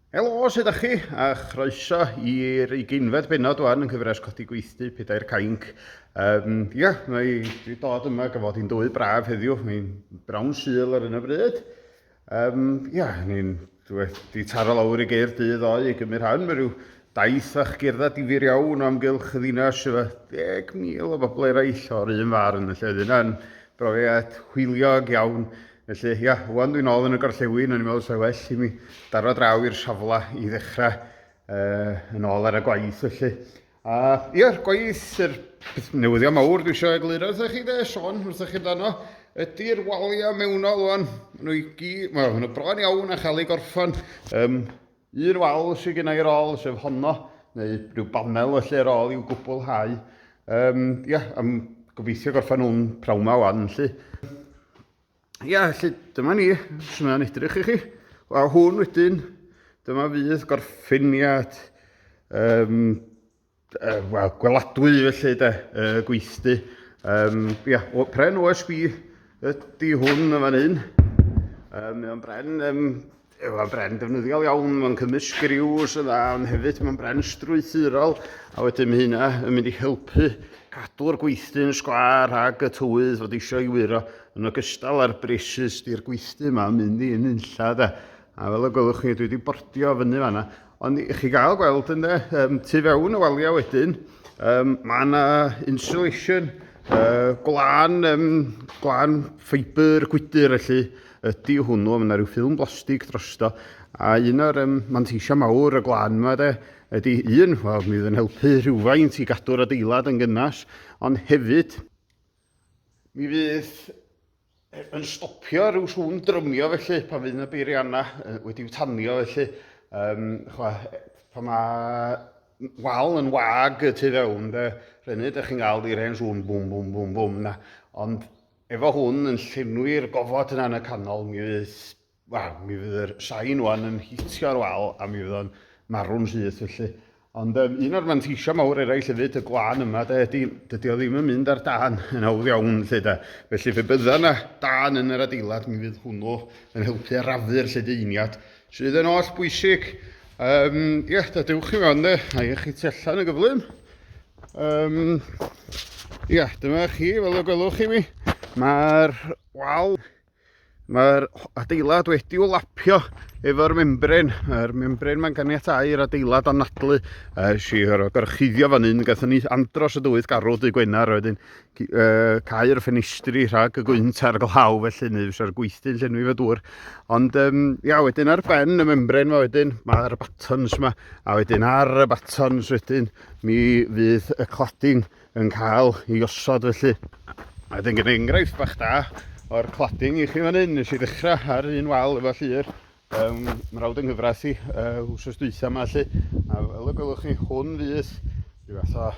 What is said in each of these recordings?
Helo, sut ydych chi? A chroeso i'r ugeinfed benod wan yn cyfres Codi Gweithdy, Pedair Cainc. Um, ia, yeah, mae wedi dod yma gyfod i'n dwy braf heddiw, mae'n brawn syl ar yna bryd. Um, ia, yeah, ni'n wedi taro lawr i geir dydd o'i i gymryd rhan, mae rhyw Daeth â chgerddau difyr iawn o amgylch y ddinas, efo deg mil o bobl eraill o'r un farn, felly oedd hynna'n brofiad hwyliog iawn. Felly, ia, wan dwi'n ôl yn y gorllewin, o'n i'n meddwl sa'i well i mi daro draw i'r safle i ddechrau yn ôl ar y gwaith felly. A ia'r gwaith, yr newyddion mawr dwi eisiau egluro wrthych chi de, Sean, wrthych chi amdano, ydy'r waliau mewnol wan, maen nhw i gyd, wel, maen nhw bron iawn a chael ei gorffan. Um, Un wal sydd gen i ar ôl, sef honno, neu rhyw banel felly ar ôl i'w gwblhau. Um, ia, am gobeithio gorffan nhw'n prawn ma wan, felly. Ia, felly, dyma ni, os yna'n edrych i chi. A hwn wedyn, dyma fydd gorffeniad um, uh, well, gweladwy felly de, uh, gweithdy. Um, yeah, o, pren OSB ydy hwn yn fan hyn. Um, mae'n bren, um, mae'n bren defnyddiol iawn, mae'n cymys griws yn dda, ond hefyd mae'n bren strwythurol, a wedyn mae hynna yn mynd i helpu cadw'r gweithdy'n sgwar rhag y tywydd fod eisiau i wyro yn ogystal â'r bresus di'r gweithdy yma yn mynd i yn unlla de. A fel y gwelwch chi, dwi wedi bordio fyny fanna. Ond i chi gael gweld yn de, um, tu fewn y waliau wedyn, um, mae yna insulation, uh, gwlan, um, gwlan ffeibr, gwydr felly, ydy hwnnw, mae yna rhyw ffilm blastig drosto, a un o'r um, manteisiau mawr y gwlan yma de, ydy un, wel, mi fydd yn helpu rhywfaint i gadw'r adeilad yn gynnas, ond hefyd, mi fydd yn stopio rhyw sŵn drymio felly pan fydd yna beiriannau uh, wedi'w tanio felly. Um, chwa, pan mae wal yn wag y tu fewn, de, rhenu, ydych chi'n cael i'r hen sŵn bwm, bwm, bwm, bwm na. Ond efo hwn yn llenwi'r gofod yna yn y canol, mi fydd Wel, mi fydd yr sain wan yn hitio ar wal a mi fydd o'n marw'n syth felly. Ond um, un o'r manteisio mawr eraill hefyd y glân yma de, ydy, dydy o ddim yn mynd ar dan yn hawdd iawn lle de. Felly fe bydda na dan yn yr adeilad mi fydd hwnnw yn helpu arafu'r lledeiniad sydd yn oll bwysig. Um, ie, yeah, da dewch i mewn de, a i chi tu allan yn gyflym. Um, ie, yeah, dyma chi, fel y gwelwch chi mi, mae'r wal Mae'r adeilad wedi i'w lapio efo'r membrin. Mae'r membrin mae'n ganiatau i'r adeilad anadlu. Ys i o gorchuddio fan hyn, gathon ni andros o dywydd garw dy Gwener, a wedyn uh, cael ffenestri rhag y gwynt a'r glaw felly, neu fysa'r gweithdy'n llenwi fy dŵr. Ond um, ia, wedyn ar ben y membrin mae wedyn, mae'r batons yma, a wedyn ar y batons wedyn mi fydd y cladding yn cael ei osod felly. A wedyn gen i enghraifft bach da o'r cladding i chi fan hyn. Nes i ddechrau ar un wal efo llir um, mrawd yng nghyfraith i uh, wsos dwytha yma lli. A fel y gwelwch chi, hwn fydd rhyw fath o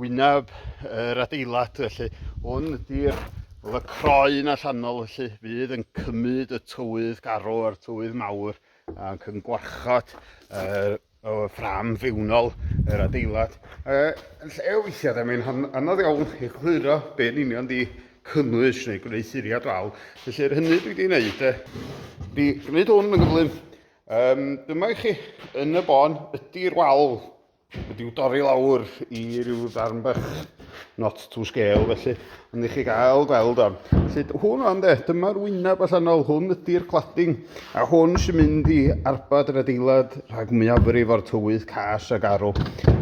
wyneb yr er adeilad felly. Hwn ydy'r Oedd y croen allanol felly fydd yn cymryd y tywydd garw a'r tywydd mawr ac yn gwarchod yr o ffram fewnol yr adeilad. Yy, yn lle o weithiau, da, mae'n anodd iawn egluro be yn union di cynnwys neu gwneud siriad wal. Felly, yr hynny dwi wedi gwneud, e, di gwneud hwn yn gyflym. Um, dyma i chi, yn y bon, ydy'r wal wedi'w dorri lawr i ryw ddarn bach not to scale felly, ond i chi gael gweld o. Felly hwn o'n de, dyma'r wyneb allanol, hwn ydy'r cladding, a hwn sy'n mynd i arbad yr adeilad rhag mwyafrif o'r tywydd cas ag arw.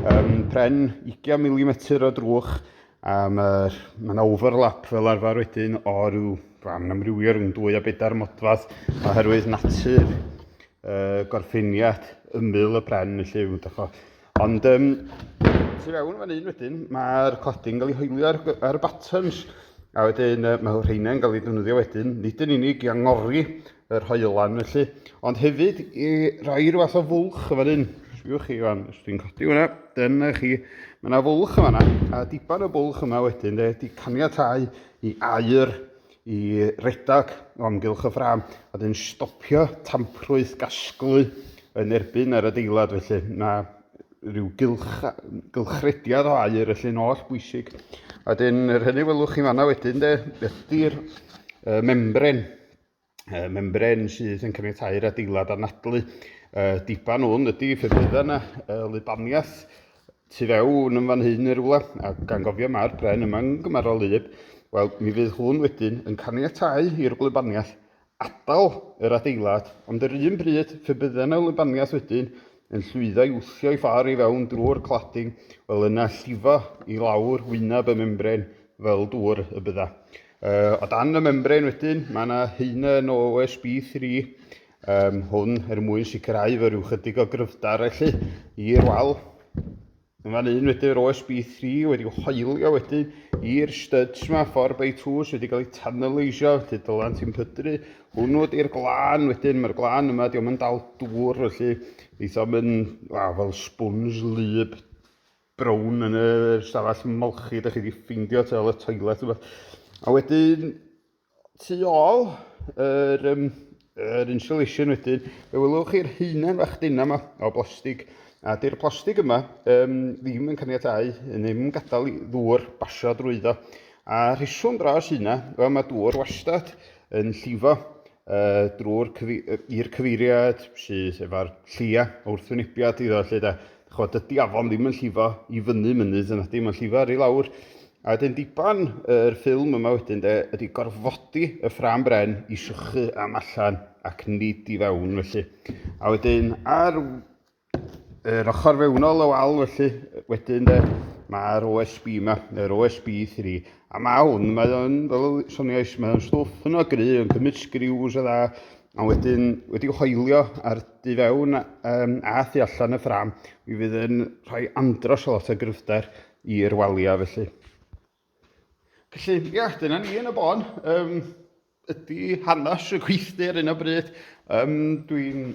Um, pren 20mm o drwch, a mae'r mae yna overlap fel arfer wedyn o ryw ran amrywio rhwng dwy a bedair modfadd oherwydd natur uh, gorffeniad ymyl y pren, felly, Ond um, tu fewn fan hyn wedyn, mae'r cladding yn cael ei hoelio ar, ar y buttons. A wedyn uh, mae rheinau'n cael ei ddefnyddio wedyn, nid yn unig i angori yr hoelan felly, ond hefyd i roi rhyw fath o fwlch fan hyn. Sbiwch chi fan, os dwi'n codi hwnna, dyna chi, mae yna fwlch yma, a diban y bwlch yma wedyn, de, di caniatau i air i redag o amgylch y ffrâm a wedyn stopio tamprwydd gasglu yn erbyn yr adeilad felly na rhyw gylch, gylchrediad o air felly'n oll bwysig. A wedyn yr hynny welwch chi fanna wedyn de ydy'r uh, membren uh, membren sydd yn caniatáu'r adeilad anadlu uh, diban hwn ydy ffefrydda yna uh, lubaniaeth tu fewn yn fan hyn yn rhywle, a gan gofio mae'r bren yma yn gymharol wlyb, wel, mi fydd hwn wedyn yn caniatáu i'r wlybaniaeth adael yr adeilad, ond yr un bryd, fe bydde yna wlybaniaeth wedyn yn llwyddo i wthio'i ffordd i fewn drwy'r cladding, wel yna llifo i lawr wyneb y membren fel dŵr y bydda. Uh, o dan y membren wedyn, mae yna heina yn OSB 3, um, hwn er mwyn sicrhau fy rhyw chydig o gryfder felly i'r wal. Yn fan un wedyn yr OSB3 wedi hoelio wedyn i'r studs yma, 4 by 2 sydd wedi cael ei tanaleisio, felly dylan ti'n pydru hwnnw ydy'r glân wedyn, mae'r glân yma, diolch yn dal dŵr, felly eitha yn wa, fel sbwns lyb brown yn y stafell molchi, da chi wedi ffeindio tel y toilet yma. A wedyn, Tu ôl yr, um, yr insulation wedyn, fe wylwch chi'r heunen fach dina yma o blastig, a dy'r plastig yma um, ddim yn caniatau, yn ddim yn gadael i ddŵr basio drwyddo. A rheswm dros hynna, wel mae dŵr wastad yn llifo uh, drwy'r cyfi i'r cyfeiriad sydd efo'r llia wrth wynebiad iddo lle da. Chod, dydy afon ddim yn llifo i fyny mynydd yn adim yn llifo ar ei lawr. A wedyn diban yr ffilm yma wedyn de, ydy gorfodi y ffrâm bren i sychu am allan ac nid i fewn felly. A wedyn ar yr ochr fewnol y wal felly, wedyn de, mae'r OSB yma, yr OSB 3. A mae hwn, mae o'n, fel y soniais, mae o'n stwff yn o gry, yn cymryd sgriws a dda, a wedyn wedi hoelio ar du fewn um, a thu allan y ffram, mi fydd yn rhoi andros o lot o gryfder i'r waliau felly. Felly, ia, dyna ni yn y bon. Um, ydy hanes y gweithdy ar un o bryd. Um, Dwi'n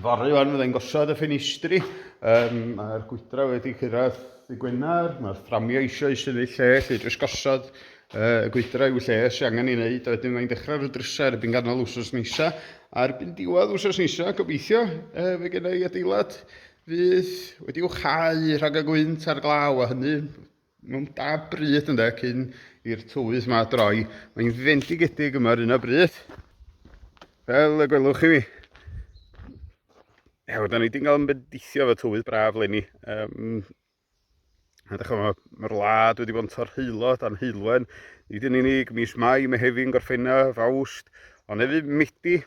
fory o'n fydden gosod y ffenestri. Um, Mae'r gwydra wedi cyrraedd y gwenar. Mae'r fframio eisiau i syni lle, lle drws gosod uh, y gwydra i'w lle sy'n angen ei wneud. A wedyn mae'n dechrau'r drysau ar y byn ganol wsos nisa. A'r byn diwedd wsos nisa, gobeithio, uh, fe gen i adeilad Fydd wedi uchau rhag y gwynt a'r glaw, a hynny mewn da bryd ynde, cyn i'r tywydd yma droi. Mae'n fendigedig yma ar un o bryd, fel y gwelwch chi mi. Ew, da ni wedi cael ymbedeithio fo tywydd braf lenni. Um, Ydych chi'n mae'r wlad wedi bod yn torheulo dan heulwen. Nid yn unig mis Mai, Mehefin, Gorffennaf, Awst, ond hefyd Medi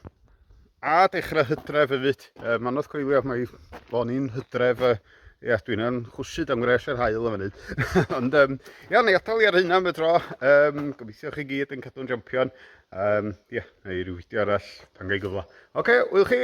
a dechrau hydref hefyd. E, mae'n oedd coelio, mae o'n i'n hydref, e, ia, dwi'n yn chwsyd am gwres yr hael yn fyny. ond, um, ia, na i atal i ar hynna am y tro. Um, gobeithio chi gyd yn cadw'n jampion. Um, ia, neu rhyw fideo arall pan gael gyfle. Oce, okay, wyl chi!